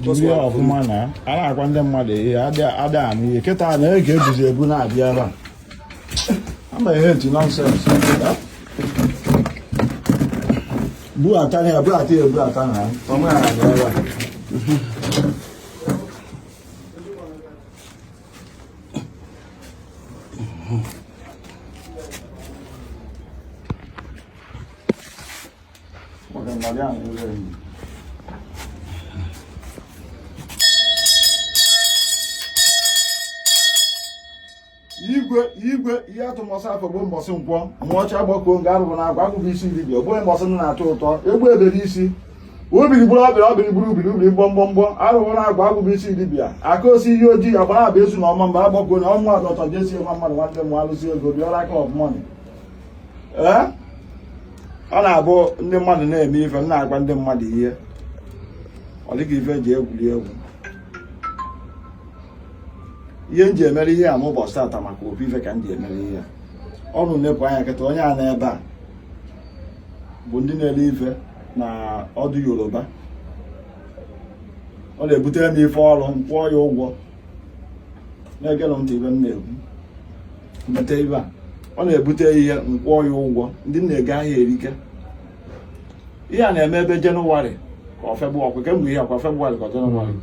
jiri ya ọfụma na a na-agwa ndị mmadụ ihe ada anụ ihe kịta na ege ebuzi ebu na-abịa ebe a ama ihe etu nonsense buata ya buata ya buata na ọmụ ya na-abịa ebe a igwe igwe ihe atụ mbọsị afọ bụ mbọsị nkwọ nwa ọcha gbakoo nga arọbụnagụ agwụ bụ isi dibịa bụ mbọsị na-atọ ụtọ egbe ebe n'isi ubiri gburu ọbịa ọbịrị gburu ubiri ubiri mgbọmgbọmgbọ arọbụnagụ agwụ bụ isi dibịa aka osi ihe ojii ya gbara abụ ezu na ọma mba agbakoo na ọnwa adọtọ jesi nwa mmadụ nwanne m alụsi ego bịara aka ọbụmọnị ọ na-abụ ndị mmadụ na-eme ife m na-agwa ndị mmadụ ihe ọ dị ka ife eji egwuri egwu ihe m ji emere ihe a mbọsị tata maka ọ bụ ife ka m ji emere ihe a ụnụ nepụ anya kịta onye a nọ ebe a bụ ndị na-ele ife na ọdụ yoruba ọ na-ebutere m ife ọrụ m kwụọ ya ụgwọ na-egenụ ntị ife m na-ekwu mete ife a ọ na-ebute ihe m kwụọ ya ụgwọ ndị na-eje ahịa erike ihe a na-eme ebe jenụwarị ka ọ febụ ọkwa kemgbe ihe akwa febụwarị ka jenụwarị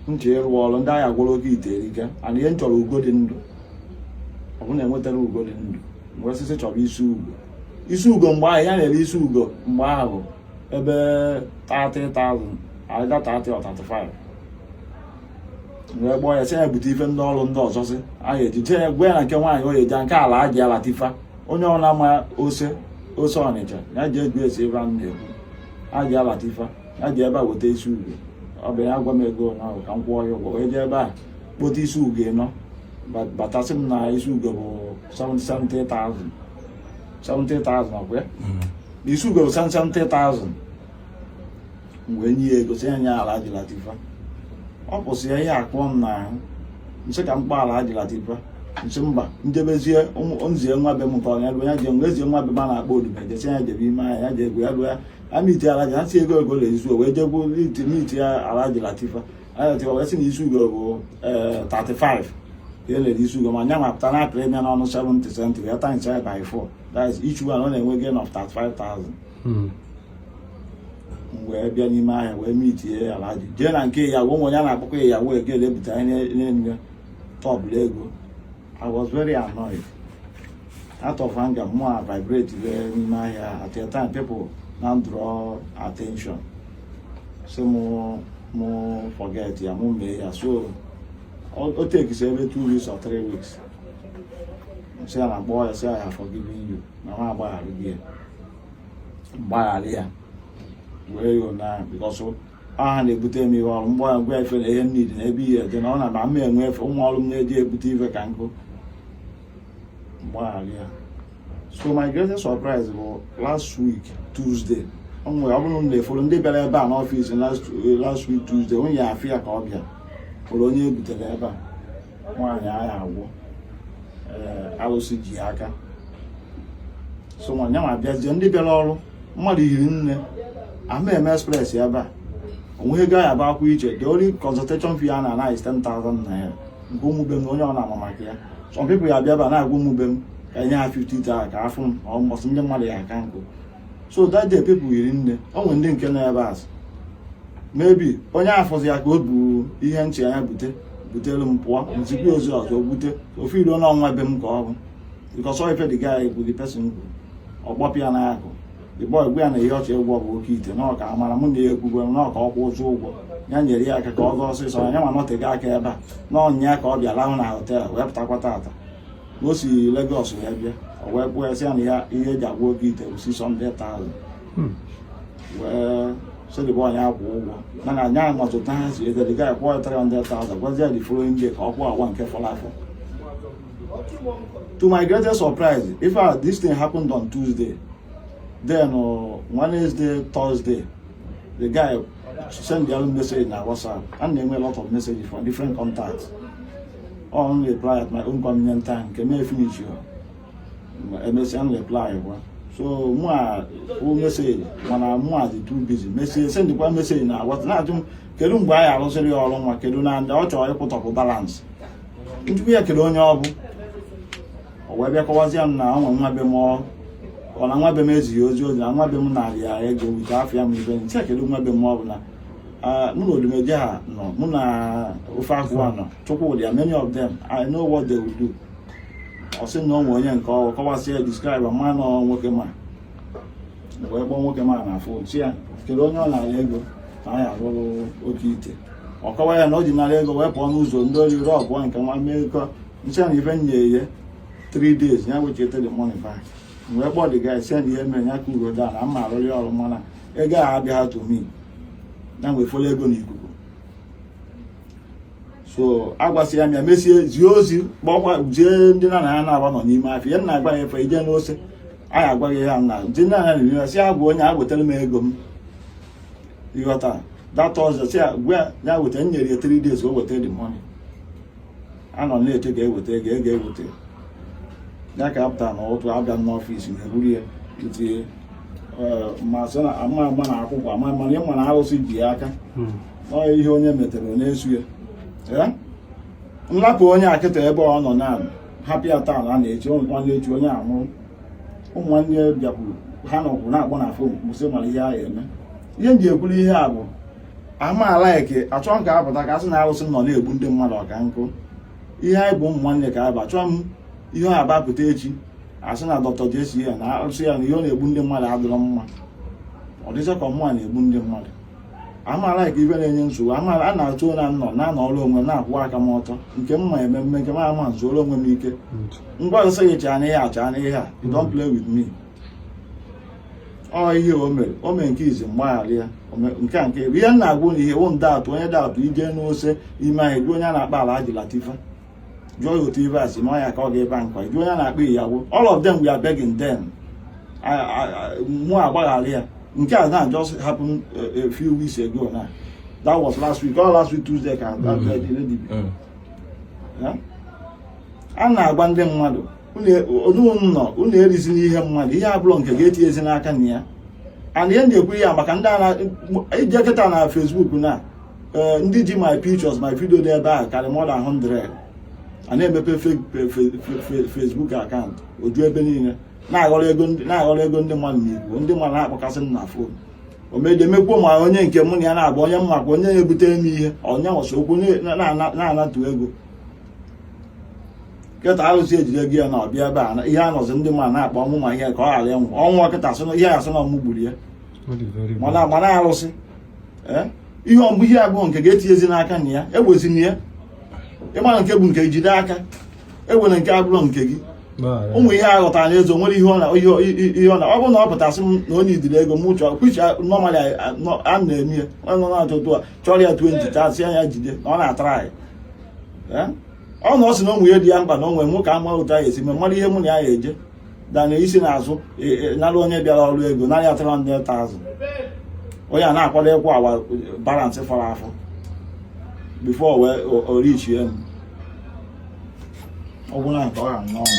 nche ịrụ ọrụ ndị agha gwụrụ oge ite erike and ihe m chọrọ ugo dị ndụ ọ bụrụ na enwetarọ ugo dị ndụ m wee sịzị chọba isi ugo isi ugo mgbe ahụ ihe a na-ere isi ugo mgbe ahụ ebe 30,000 either 30 or 35 wee kpọọ ya sị ya bute ife ndị ọrụ ndị ọzọ sị anyị ejije ya gwa ya na nke nwaanyị ya jee nke Alhaja Latifa onye ọbụla ma ose ose ọnịcha ya ji eju esi ebe anụ na-ekwu Alhaja Latifa ya jee ebe a weta isi ugo ọ bịa gwa m ego ụnyaahụ ka m kwụọ ya ụgwọ wee jee ebe a kpota isi ugo ịnọ bata sị m na isi ugo bụ 70,000 70,000 ọkwa ya isi ugo bụ 70,000 m wee nye ya ego sị ya nye Alhaji Latifa ọ pụsịa ihe akụọ m n'ahụ m sị ka m kpọọ Alhaji Latifa m sị mba m jebezie m zie nwa be m nke ọnya ya je m wee zie nwa be m a na-akpọ odibe je sị ya jebe ime ahịa ya jekwu ya jụọ ya a na iti Alhaji ha si ego ego ole izu wee jekwu n'iti ya Alhaji Latifa Haji Latifa wee sị na isi ugo bụ 35 ya lere isi ugo ma nya ma pụta na apịrị ya n'ọnụ 70 cent ya times ya by 4 that is each one ọ na-enwe gain of 35,000 hmm. wee bịa n'ime ahịa wee mitie ya alaji jee na nke ya onwe ya na-akpọkọ ya yawo egele bute anya n'elu tebụl ego I was very annoyed out of anger mụ avibratewe n'ime ahịa at a time people na-adraw attention sị mụ mụ forget ya mụ mee ya so o tekisi ebe two weeks or three weeks sị ya na-akpọ ya sị ya ya forgiving you na nwa agbaghara gị ya gbaghara ya wee yọọ na because ha na-ebute m ihe ọrụ mgbe ya gwa efe na ihe m nidi na ebe ihe dị na ọ na-aba m enwe efe ụmụ ọrụ m na-eji ebute ife ka nkụ gbaghara ya so my greatest surprise bụ last week Tuesday o nwere ọ bụrụ unu na-efolo ndị bịara ebe a n'ọfịs last week Tuesday onye ya afụ ya ka ọ bịa fụrụ onye e butere ebe a nwaanyị a ya-agwọ eh, alụsị ji aka so nwaanyị ma bịazie ndị bịara ọrụ mmadụ eri nne a ma eme express ebe a o nweghị ego ya bụ akwụ iche the only consultation fee a na-ana gị 10,000 naira nke ụmụ be m onye ọ na-ama maka ya some people ya-abịa ebe a na-agwa ụmụ be m ka e nye ha 50 taa ka afụ m ọ mbọsị ndị mmadụ ya aka nkụ so that day people eri nne o nwere ndị nke nọ ebe azụ maybe onye afụzie ya ka o bu ihe nche ya bute butere m pụọ zikwa ozi ọzọ bute ofu iruo n'ọnwa be m ka ọ bụ because all ife the guy bụ the person kwuru ọ kpọpụ ya n'akụkụ the boy gwa ya na ihe ọ chọ ịgwọ bụ oke ite na ọ ka amara mụ na ya ekwugwe na ọ ka ọ kwụzuo ụgwọ ya nyere ya aka ka ọ gaa ọsịsọ ya ma nọtega aka ebe a na ọ nya ka ọ bịa lahụ na họtel wee pụtakwa tata o si Lagos wee bịa o wee kwuo sị ya na ya ihe e ji agwọ oke ite bụ 600,000 hmm. wee sị the boy ya kwụọ ụgwọ mana anya ahụ ọtụtụ ha si ego the guy akwụọ ya 300,000 gwazie the following day ka ọ kwụọ ụgwọ nke fọrọ afọ to my greatest surprise if uh, this thing happened on Tuesday then uh, Wednesday Thursday the guy send the message na WhatsApp and na-enwe a lot of messages from different contacts m na-areply at my own convenient time nke m efinish ya emesịa m reply kwa so mụ afụ message mana mụ adị too busy message sendịkwa message na-agwa na-ajụ m kedu mgbe a ya-arụziri ya ọrụ nwa kedu na ndị ọ chọrọ ịkwụtọpụ balance m jụkwa ya kedu onye ọ bụ o wee bịa kọwazie m na ọ nwe nwa be m ọ na nwa be m ezighị ozi ozi na nwa be m nara ya ego wite afọ ya m ibe nche kedu nwa be m ọ bụ na Uh, mụ na Odumeje ha nọ mụ na ofe agụ a nọ Chukwudi and many of them I know what they will do ọ sị na o nwe onye nke ọrụ kọwasị ya describe ma na nwoke m a wee kpọọ nwoke m a na fon sị ya kedu onye ọ narị ego na anyị arụrụ oke ite ọ kọwa ya na o ji narị ego wee pụọ n'ụzọ ndị ori rọọ pụọ nke nwa mee kọ nche na ife nye ihe 3 days ya wecheta the money back wee kpọọ the guy send ihe mere ya ka uro da na mma arụrị ọrụ mana ego a abịa to me na mgbe fọrọ ego n'ikuku so agwasị ya m mesịa zie ozi kpọkwa jee ndị na na ya na-agba nọ n'ime afịa ya na agba ya efe ị jee n'Ose a ya-agwa gị ya na ndị nna ya na-eme sị ya gwa onye a wetara m ego m ị ghọta data ọzọ sị ya weta nyere ya 3 days o weta the money a nọ na-eche ka e weta ego ka e weta ego ka a pụta n'ụtụtụ a bịa n'ọfịs na e buru ya itinye ma sị na ama ama na akwụkwọ ama mana ị ma na arụsị ji ya aka hmm. ọ ihe onye metere na-eso ya m lapụ onye a kịta ebe ọ nọ na hapụ ya taa na echi nwanne echi onye a anwụrụ ụmụ nwanne bịakwuru ha nọkwuru na-akpọ na fon sị mara ihe a ya-eme ihe m ji ekwuru ihe a bụ aha m alike achọ m ka a pụta ka a sị na arụsị nọ na-egbu ndị mmadụ ọka nkụ ihe anyị bụ ụmụ nwanne ka aba chọọ m ihe a ga-apụta echi a sị na dọkịta jesi ya na arụsị ya na ihe ọ na-egbu ndị mmadụ adịrọ mma ọ dịcha ka ọ mụnwa na-egbu ndị mmadụ aha m alike ife na-enye nsogbu amaala a na-atụ na nọ na-anọrọ onwe m na-akwụ aka m ọtọ nke m ma eme m mee nke m ama m zuoro onwe m ike ngwa m sị gị chaa n'ihe a chaa n'ihe a you don't play with me ọ ihe o mere o mee nke izizi m gbaghara ya nke a nke ebe ihe m na-agwa na ihe wụ nde atụ onye daatụ ị jee n'Ose ime anyị jụọ onye a na-akpọ Alhaji Latifa jụọ ya otu ibe asị ma ya ka ọ ga-ebe nkwa jụọ onye a na-akpọ Iyawo all of them were begging them mụ agbaghara ya nke a na just happen eh, a few weeks ago na that was last week or last week Tuesday ka mm-hmm. mm. a na-agwa ndị mmadụ unu nọ unu erizina ihe mmadụ ihe abụrọ nke gị etinyezina aka na ya ana ihe m na-ekwu ya maka na ị jee kịta na Facebook na eh, ndị ji my pictures my video dị ebe ahụ karị more than 100 a na-emepe Facebook account o ju ebe niile na-aghọrọ ego ndị mmadụ n'Igbo ndị mmadụ na-akpọkasị m na fon omedemekwuo ma onye nke mụ na ya na-abụ onye m ma ka onye na-ebute m ihe onye na-asa okwu na-anatụ ego kịta arụsị ejide gị ya na ọbịa ebe a ihe anọzi ndị ma na-akpọ ọnwụ ma ihe ka ọ ghara ịnwụ ọnwụ nkịta sị ihe asị na ọmụ gburu ya mana mana arụsị eh? ihe ọmụ ihe abụọ nke ga-etinyezi n'aka na ya ewezina ya ịmara nke bụ nke jide aka ewere nke abụrụ nke gị ụmụ ihe a ghọtara na ezo nwere ihe ọ na ihe ọ na ọ bụrụ na ọ pụtasị m na onye idiri ego m chọọ kwicha normally a na-eme ya onye nọ na-achọ otu a chọrọ ya 20 chasịa ya jide na ọ na-atara anyị ọ na ọ sị na nwunye ya dị ya mkpa na onwe nwoke ama otu anyị esi mara ihe mụ na ya eje dana isi na-azụ e, e, nara onye bịara ọrụ ego narị atara ndị ta azụ onye a na-akwado ịkwụ awa balance fọrọ afọ before wee orichie m ọ gwụla nke ọ ha n'ọnụ